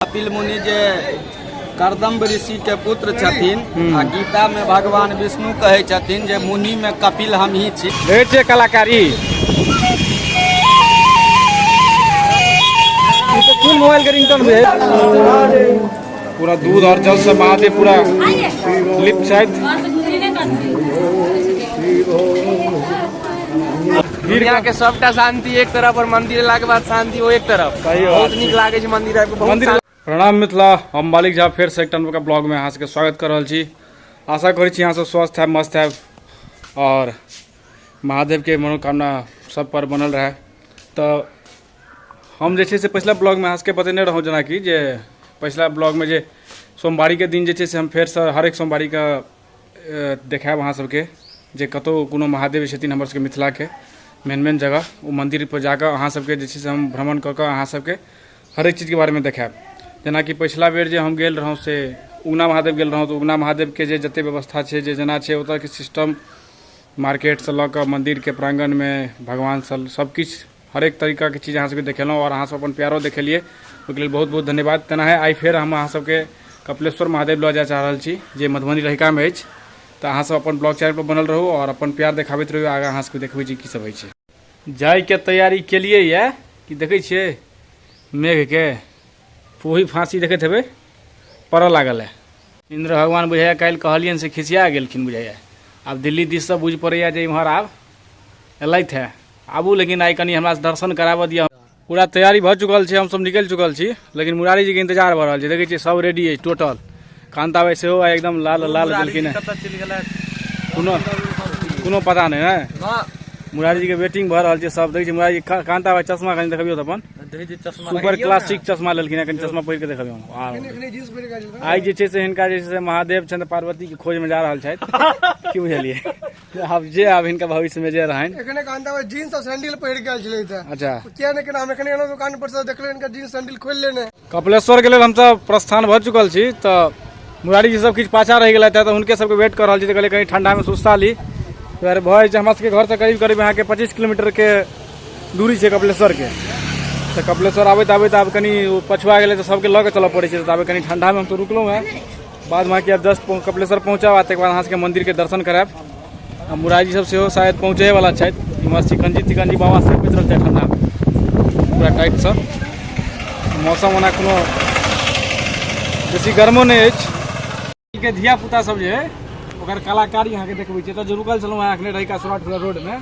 कपिल मुनि जे करदम्ब ऋषि के पुत्र छथिन आ गीता में भगवान विष्णु कहे छथिन जे मुनि में कपिल हम ही छी भेट छै कलाकारी ई तऽ कोन मोबाइल के रिंगटोन भेल पूरा दूध और जल से महादेव पूरा लिप्त छथि दुनिया के सबटा शांति एक तरफ और मंदिर ला के बाद शांति वो एक तरफ सही बात बहुत छै। नीक लागे छै मंदिर आबि के बहुत मंदिर प्रणाम मिथिला हम मालिक झा फेर से एकटा नवका ब्लॉग में अहाँ सबके स्वागत कर रहल छी आशा करै छी अहाँ सब स्वस्थ है मस्त है और महादेव के मनोकामना सब पर बनल रहे तऽ हम जे छै से पछिला ब्लॉग में अहाँ सबके बतेने रहौं जेनाकि जे पछिला ब्लॉग में जे सोमवारी के दिन जे छै से हम फेर से हर एक सोमवारी के देखायब अहाँ सबके जे कतौ कोनो महादेव छथिन हमर सबके मिथिलाके मेन मेन जगह ओ मन्दिर पर जाकऽ अहाँ सबके जे छै से हम भ्रमण कऽ कऽ अहाँ सबके हरेक चीजके बारेमे देखायब जेनाकि पछिला बेर जे हम गेल रहौं से उगना महादेव गेल रहौं तऽ उगना महादेवके जे जते व्यवस्था छै जे जेना छै ओतऽके सिस्टम मार्केटसँ लऽ कऽ मन्दिरके प्राङ्गणमे भगवान सब सबकिछु हरेक तरीकाके चीज अहाँ सबके देखेलहुँ आओर अहाँ सब अपन प्यारो देखेलिए ओहिके लेल बहुत बहुत धन्यवाद तेनाहे आइ फेर हम अहाँ सबके कपिलेश्वर महादेव लऽ जाए चाह रहल छी जे मधुबनी रहिकामे अछि तऽ अहाँ सब अपन ब्लॉग चैनलपर बनल रहू आओर अपन प्यार देखाबैत रहू आगाँ अहाँ सबके देखबै छी की सब होइ छै जाइके तैयारी केलिए यऽ कि देखै छियै मेघके फूही फाँसी देखैत हेबै पड़ऽ लागल है इन्द्र भगवान बुझाइया काल्हि कहलियनि से खिसिया गेलखिन बुझाइया आब दिल्ली दिससँ बुझि पड़ैया जे इम्हर आब एलथि है आबू लेकिन आइ कनि हमरा दर्शन कराबऽ दिअ पूरा तैयारी भऽ चुकल छै हमसभ निकलि चुकल छी लेकिन मुरारी जीके इंतजार भऽ रहल छै देखै छियै सभ रेडी अछि टोटल कान्ता भाई सेहो आइ एकदम लाल लाल देलखिन हेँ कतऽ चलि गेलै कोनो कोनो पता नहि है ना मुरारी जीके वेटिंग भऽ रहल छै सभ देखै छियै मुरारी जी का- कान्ता भाई चश्मा कनि देखबियौ तऽ अपन देखै छी चश्मा सुपर क्लासिक चश्मा लेलखिन हेँ कनि चश्मा पहिर कऽ देखबियौ आ आइ जे छै से हिनका जे छै से महादेव छनि तऽ पार्वतीके खोजमे जा रहल छथि की बुझलियै आब जे आब हिनका भविष्य में जे रहन एखने कहान तब जीन्स और सैंडल पहिर के आयल छलै तऽ अच्छा किया ने केना हम एखने एलहुँ दुकान पर से देखले इनका जीन्स सैंडल खोलि लेने कपिलेश्वर के लेल हम सब प्रस्थान भऽ चुकल छी तऽ मुरारी जी सब किछु पाछा रहि गेलथि तऽ हुनके सबके वेट कर रहल छी तऽ कहलियै कहीं ठंडा में सुस्ता ली दुआरे भऽ जाइ छै हमरा सबके घर से करीब करीब अहाँके पच्चीस किलोमीटर के दूरी छै कपिलेश्वर के तऽ कपिलेश्वर आबैत आबैत आब कनि ओ पछुआ गेलै तऽ सबके लऽ के चलऽ पड़ै छै तऽ आब कनि ठंडा में हम तऽ रुकलहुँ हैं बाद बाँकी आब जस्ट कपिलेश्वर पहुँचब आ तकर बाद अहाँ सबके मन्दिरके दर्शन करायब आ मुरारी सब सेहो शायद पहुँचै वाला छथि इम्हर चिकनजी तिकनजी बाबा सब पहुँच रहल छथि ठंडामे पूरा टाइटसँ मौसम ओना कोनो बेसी गर्मो नहि अछि के धियापुता सब जे अइ ओकर कलाकारी अहाँके देखबै छियै तऽ रुकल छलहुँ हेँ एखने रहिका सुराट रोडमे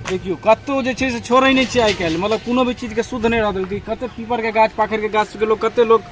देखियौ कतहु जे छै से छोड़ै नहि छै आइ काल्हि मतलब कोनो भी चीजके शुद्ध नहि रहल कतेक पीपरके गाछ पाकड़िके गाछ लोक कतेक लोक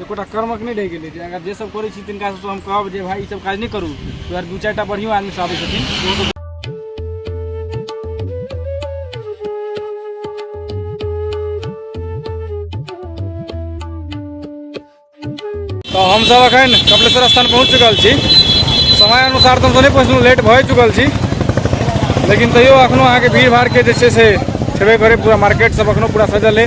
एकोटा कर्मक नहि रहि गेलै जे अगर जे सब करै छी तिनका सबसँ हम कहब जे भाई ई सब काज नहि करू दुआरे दू चारिटा बढ़ियो आदमी सब आबै छथिन तऽ हमसभ एखन कपिलेश्वर स्थान पहुँच चुकल छी समय अनुसार तऽ हमसभ नहि पहुँचलहुँ लेट भए चुकल छी लेकिन तैयो एखनो अहाँके भीड़ भाड़के जे छै से छेबे करै पूरा मार्केट सब एखनो पूरा सजल अइ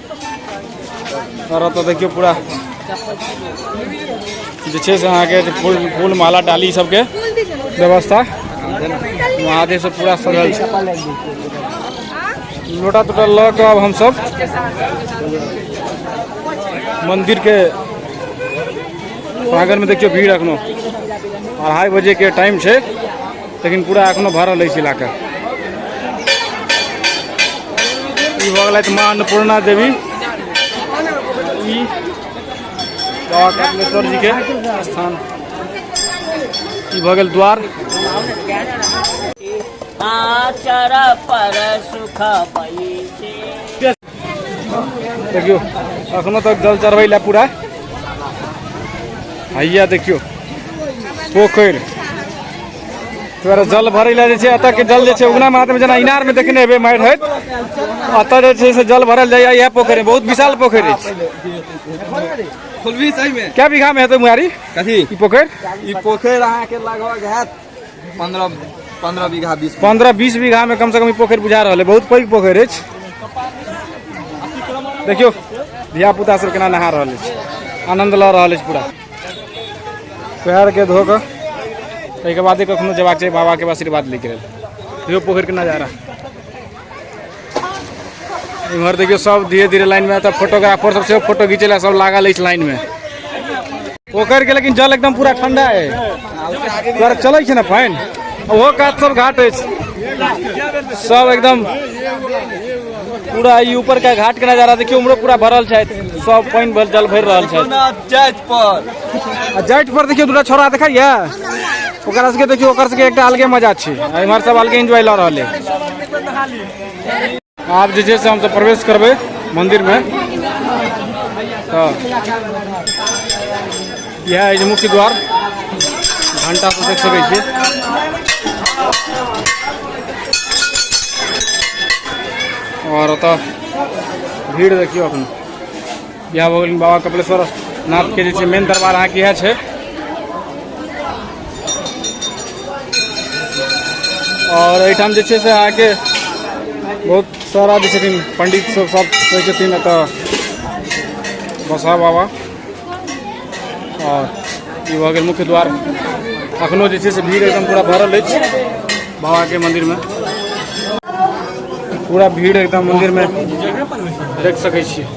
तर त देखियो पूरा जे छै से अहाँके फूल फूल माला डाली ई सबके व्यवस्था महादेव से पूरा सजल छै लोटा तोटा लऽ कऽ आब हमसब मंदिर के प्रांगण में देखियो भीड़ एखनो अढ़ाई बजे के टाइम छै लेकिन पूरा एखनो भरल अछि इलाका ई भऽ गेलथि माँ अन्नपूर्णा देवी ई बाबा कपिलेश्वर जी के स्थान ई भऽ गेल द्वार आचर पर सुख बैसे देखियो अखनो तक जल चढ़बै लए पूरा हैया देखियो पोखरि दुआरे जल भरै लए जे छै एतऽ के जल जे छै उगना महादेव जेना इनार में देखने हेबै मारि होइत एतऽ जे छै से जल भरल जाइए इएह पोखरि बहुत विशाल पोखरि अछि खोलबी सही में क्या बीघा में हेतै मुहारी कथी ई पोखरि ई पोखरि अहाँके लगभग हैत पंद्रह पंद्रह बीघा बीस पंद्रह बीस बीघा में कम से कम ई पोखरि बुझा रहल है बहुत पैघ पोखरि अछि देखियौ धिया पुता सब केना नहा रहल अछि आनंद लऽ रहल अछि पूरा पैर के धो कऽ ताहिके बादे कखनो जेबाक चाही बाबा के आशीर्वाद लैके लेल देखियौ पोखरि के नजारा इम्हर देखियो सब धीरे धीरे लाइन में तब फोटोग्राफर सब से फोटो घीचे ला सब लागल इस लाइन में पोखर के लेकिन जल एकदम पूरा ठंडा है तोरा चले छे ना पानि ओहो कात सब घाट है सब एकदम पूरा ई ऊपर का घाट के नजारा देखियो उमरो पूरा भरल छै सब पानि भर जल भर रहल छै जाइत पर आ जाइत पर देखियो दूटा छोरा देखैया ओकरा सबके देखियो ओकर सबके एकटा अलगे मजा छै आ इम्हर सब अलगे एंजॉय लऽ रहल है आब जे छै से हमसब प्रवेश करबै मन्दिरमे तऽ इएह अछि मुख्य द्वार घण्टा सब देख सकै छियै आओर ओतऽ भीड़ देखियौ एखन इएह भऽ गेल बाबा कपिलेश्वर नाथके जे छै मेन दरबार अहाँके इएह छै आओर एहिठाम जे छै से अहाँके बहुत सारा जे छथिन पंडित सब सब रहै छथिन एतऽ बसा बाबा आओर ई भऽ गेल मुख्य द्वार अखनो जे छै से भीड़ एकदम पूरा भरल अछि बाबाके मन्दिरमे पूरा भीड़ एकदम मन्दिरमे देख सकै छियै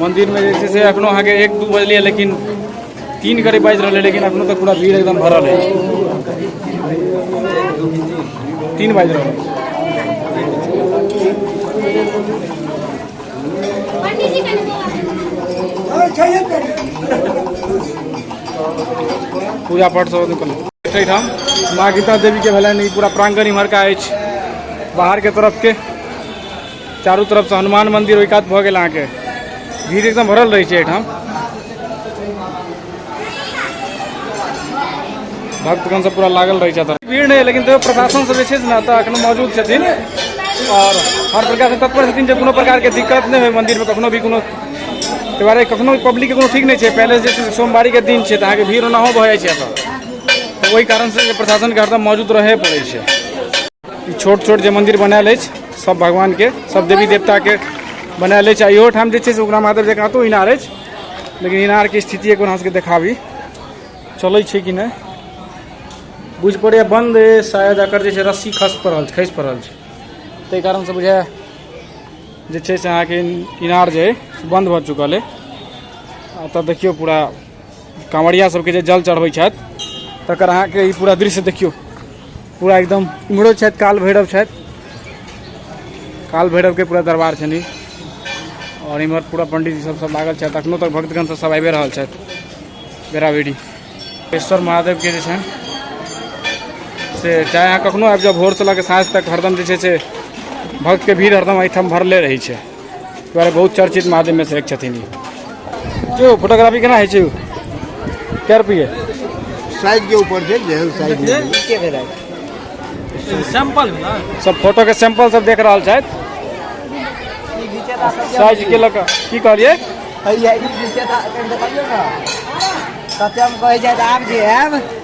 मन्दिरमे जे छै से एखनो अहाँके एक दू बजलै लेकिन तीन करीब बाजि रहलै लेकिन एखनो तक पूरा भीड़ एकदम भरल अछि तीन बाजि रहल पूजा पाठ सब निकल एहिठाम माँ गीता देवीके भेलनि ई पूरा प्राङ्गण इम्हरका अछि बाहरके तरफके चारू तरफसँ हनुमान मन्दिर ओहि कात भऽ गेल अहाँके भीड़ एकदम भरल रहै छै एहिठाम भक्तगण सब पूरा लागल रहै छथि भीड़ नहि लेकिन तैयो प्रशासन सब जे छै ने तऽ एखनो मौजूद छथिन आओर हर प्रकारसँ तत्पर छथिन जे कोनो प्रकारके दिक्कत नहि होइ मन्दिरमे कखनो भी कोनो ताहि दुआरे कखनो पब्लिकके कोनो ठीक नहि छै पहिले जे छै से सोमवारीके दिन छै तऽ अहाँके भीड़ ओनाहो भऽ जाइ छै एतऽ तऽ ओहि कारणसँ जे प्रशासनके हरदम मौजूद रहए पड़ै छै ई छोट छोट जे मन्दिर बनायल अछि सब भगवानके सब देवी देवताके बनायल अछि आ इहो ठाम जे छै से उगना महादेव जे कतहु इनार अछि लेकिन इनारके स्थिति एक बेर अहाँ सबके देखाबी चलै छै कि नहि बुझि पड़ैए बन्द अछि, शायद एकर जे छै रस्सी खसि पड़ल छै खसि पड़ल छै ताहि कारणसँ बुझाए जे छै से अहाँके इनार जे अइ से बन्द भऽ चुकल अइ आ तऽ देखियौ पूरा कांवरिया सबके जे जल चढ़बै छथि तकर अहाँके ई पूरा दृश्य देखियौ पूरा एकदम इम्हरो छथि काल भैरव छथि काल भैरवके पूरा दरबार छनि आओर इम्हर पूरा पंडितजी सब सब लागल छथि अखनो तक भक्तगण सब सब आबिए रहल छथि बेराबेरी केश्वर महादेवके जे छनि से चाहे अहाँ कखनो आबि जाउ भोरसँ लऽ कऽ साँझ तक हरदम जे छै से भक्तके भीड़ हरदम एहिठाम भरले रहै छै दुआरे बहुत चर्चित महादेव में से एक छथिन जो फोटोग्राफी केना है छै कै रुपये साइज के ऊपर छै जेहन साइज सैंपल सब फोटो के सैंपल सब देख रहल छथि साइज के लऽ कऽ की कहलियै कतेक कहै छथि आब जे आयब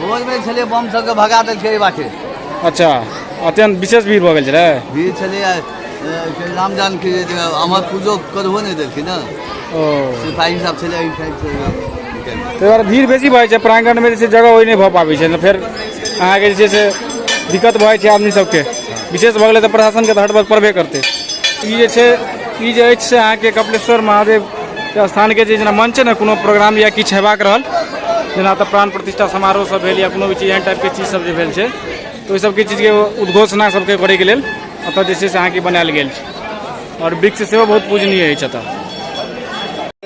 भोजमे छलै बम सबके भगा दै छै बाटे अच्छा अत्यंत विशेष भीड़ भऽ गेल छलै भीड़ छलै आ, ए, से राम जानकी जे छै, अमर पूजो करबो नहि देलखिन ने ओ सिपाही सब छलै एहि साइड से निकलि। ताहि दुआरे भीड़ बेसी भऽ जाइ छै प्राङ्गणमे जे छै जगह ओहि नहि भऽ पाबै छै तऽ फेर अहाँके जे छै से दिक्कत भऽ जाइ छै आदमी सबके विशेष भऽ गेलै तऽ प्रशासनके तऽ हटबक पड़बे करतै ई जे छै ई जे अछि से अहाँके कपिलेश्वर महादेव के स्थानके जे जेना मंच छै ने कोनो प्रोग्राम या किछु हेबाक रहल जेना तऽ प्राण प्रतिष्ठा समारोह सब भेल या कोनो भी चीज एहन टाइपके चीज सब जे भेल छै तऽ ओहि सबके चीजके उद्घोषणा सबके करैके लेल एतऽ जे छै से अहाँके बनायल गेल छै आओर वृक्ष सेहो बहुत पूजनीय अछि एतऽ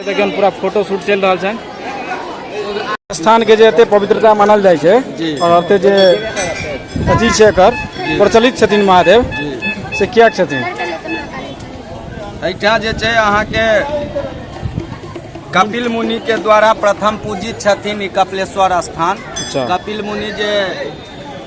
देखियौ पूरा फोटो शूट चलि रहल छनि स्थानके जे एते पवित्रता मानल जाइ छै आओर एते जे अथी छै एकर प्रचलित छथिन महादेव से किएक छथिन एहिठाम जे छै अहाँके कपिल मुनि के द्वारा प्रथम पूजित छथिन ई कपिलेश्वर स्थान अच्छा। कपिल मुनि जे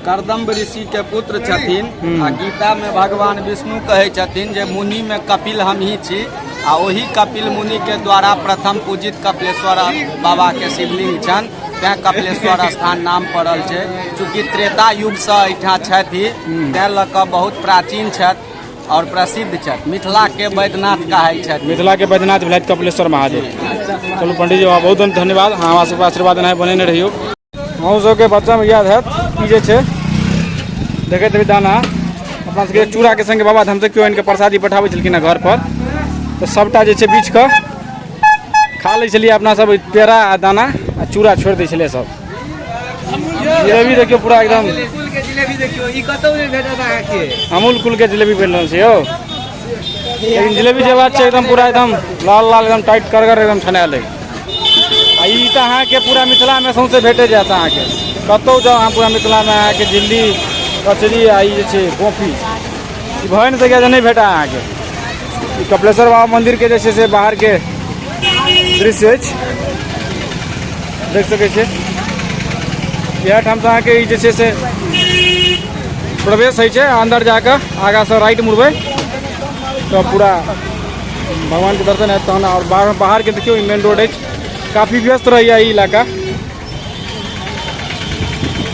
करदम्ब ऋषि के पुत्र छथिन आ गीता में भगवान विष्णु कहे छथिन जे मुनि में कपिल हम ही छी आ ओही कपिल मुनि के द्वारा प्रथम पूजित कपिलेश्वर बाबा के शिवलिंग छन तैं कपिलेश्वर स्थान नाम पड़ल छै चूँकि त्रेता युग से एहिठाम छथि तैं लऽ कऽ बहुत प्राचीन छथि और प्रसिद्ध छथि मिथिला के वैद्यनाथ कहाई छथि मिथिला के बैद्यनाथ भेलथि कपिलेश्वर महादेव चलू पंडित जी बाबा बहुत बहुत धन्यवाद अहाँ हमरा सबके आशीर्वाद एनाहि बनेने रहियौ अहूँ सबके बच्चामे याद हैत ई जे छै देखैत रही दाना अपना सबके चूड़ाके संगे बाबा धामसँ केओ आनिके प्रसादी पठाबै छलखिन हँ घरपर तऽ सभटा जे छै बीछ कऽ खा लै छलियै अपना सब पेड़ा आ दाना आ चूड़ा छोड़ि दै छलियै सब जिलेबी देखियो पूरा एकदम कुल के जिलेबी देखियो ई कतौ नहीं भेटत अहाँ के अमूल कुल के जिलेबी बन रहल छै यौ लेकिन जिलेबी जे बात छै एकदम पूरा एकदम लाल लाल एकदम टाइट करगर एकदम छनायल है आ ई तऽ अहाँके पूरा मिथिलामे सौंसे भेटे जायत अहाँके कतौ जाउ अहाँ पूरा मिथिलामे अहाँके झिल्ली कचरी आ ई जे छै गोफी ई भए नहि सकैए जे नहि भेटा अहाँके ई कपिलेश्वर बाबा मन्दिरके जे छै से बाहरके दृश्य अछि देख सकै छियै इएह ठामसँ अहाँके ई जे छै से प्रवेश होइ छै अन्दर जा कऽ आगाँसँ राइट मुड़बै तऽ पूरा भगवानके दर्शन हैत तहन आओर बाहर बाहरके देखियौ ई मेन रोड अछि काफी व्यस्त रहैए ई इलाका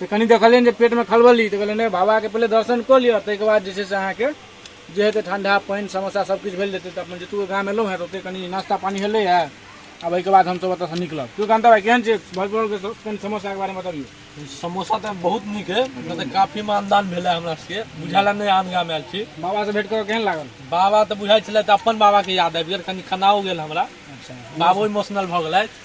से कनि देखलियनि जे पेटमे खलबली तऽ कहलियनि नहि बाबाके पहिले दर्शन कऽ लिअ ताहिके बाद जे छै से अहाँके जे हेतै ठंडा पानि समोसा सब किछु भेल जेतै तऽ अपन जतबो गाम एलहुँ हेँ तऽ ओतहि कनि नाश्ता पानि भेलै हँ आब एहिके बाद हमसब ओतऽसँ निकलब केओ कान्ता भाइ केहन छै भरपुरके कनि समोसाके बारेमे बतबियौ समोसा तऽ बहुत नीक है मतलब काफी मानदान भेल है हमरा सबके बुझायल है नहि आन गाम आयल छी बाबासँ भेट कऽ केहन लागल बाबा तऽ बुझाइ छलै तऽ अपन बाबाके याद आबि गेल कनि खनाओ गेल हमरा अच्छा बाबो इमोशनल भऽ गेलथि